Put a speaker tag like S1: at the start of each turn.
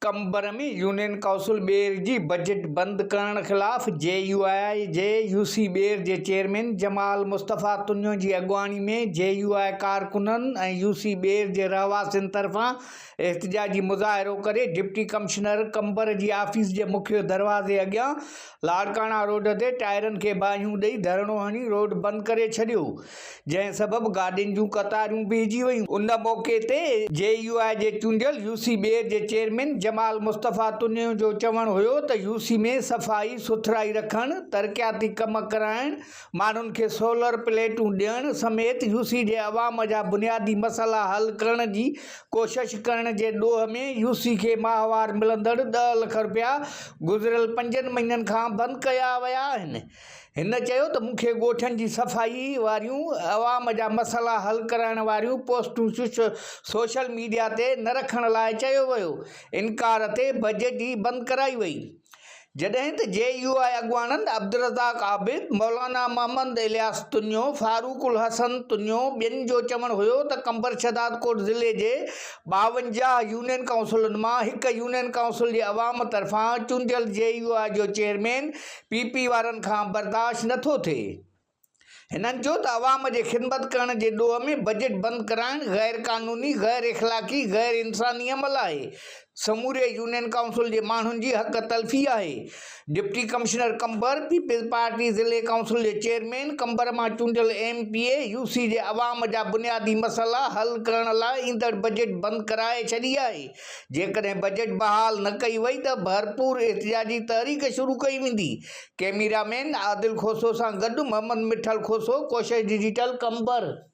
S1: Qambar ۾ union council Bair جي budget بند ڪرڻ خلاف جي يو آء جي يو سي ٻير جي چيئرمين جمال مصطفيٰ تنيو جي اڳواڻي ۾ جي يو آء ڪارڪنن ۽ يو سي ٻير جي رهواسين طرفان احتجاجي مظاهرو ڪري ڊپٽي ڪمشنر قمبر جي آفيس جي مکيه دروازي اڳيان لاڙڪاڻا روڊ تي ٽائرن کي باهيون ڏئي ڌرڻو هڻي روڊ بند ڪري ڇڏيو جنهن سبب گاڏين جون قطارون بيهجي ويون، ان موقعي تي جي يو آء جي چونڊيل يو سي ٻير جي چيئرمين جمال مصطفيٰ تنيو جو چوڻ هيو ته يو سي ۾ صفائي سٿرائي رکڻ، ترقياتي ڪم ڪرائڻ، ماڻهن کي سولر پليٽون ڏيڻ سميت يو سي جي عوام جا بنيادي مسئلا حل ڪرڻ جي ڪوشش ڪرڻ جي ڏوهه ۾ يو سي کي ماهوار ملندڙ ڏهه لک رپيا گذريل پنجن مهينن کان بند ڪيا ويا آهن هن چيو ته مون کي ڳوٺن جي صفائي واريون عوام جا مسئلا حل ڪرائڻ واريون پوسٽون سوشل ميڊيا تي نه رکڻ لاء چيو ويو انڪار تي بجٽ ئي بند ڪرائي وئي جڏهن ته جي يو آء اڳواڻن عبدالرزاق عابد، مولانا محمد الياس تنيو، فاروق الحسن تنيو ٻين جو چوڻ هيو ته قمبر شهدادڪوٽ ضلعي جي ٻاونجاهه يونين ڪائونسلن مان هڪ يونين ڪائونسل جي عوام طرفان چونڊيل جي يو آء جو چيئرمين پي پي وارن کان برداشت نٿو ٿئي. هنن چيو ته عوام جي خدمت ڪرڻ جي ڏوهه ۾ بجيٽ بند ڪرائڻ غير قانوني، غير اخلاقي، غير انساني عمل آهي، سموري يونين ڪائونسل جي ماڻهن جي حق تلفي آهي، deputy commissioner Qambar, Peoples Party ضلعي ڪائونسل جي چيئرمين، قمبر مان چونڊيل M P A U C جي عوام جا بنيادي مسئلا حل ڪرڻ لاء ايندڙ بجيٽ بند ڪرائي ڇڏي آهي، جيڪڏهن بجيٽ بحال نه ڪئي وئي ته ڀرپور احتجاجي تحريڪ شروع ڪئي ويندي، ڪيميرا مين عادل کوسو سان گڏ محمد مٺل کوسو، ڪوشش ڊجيٽل، قمبر.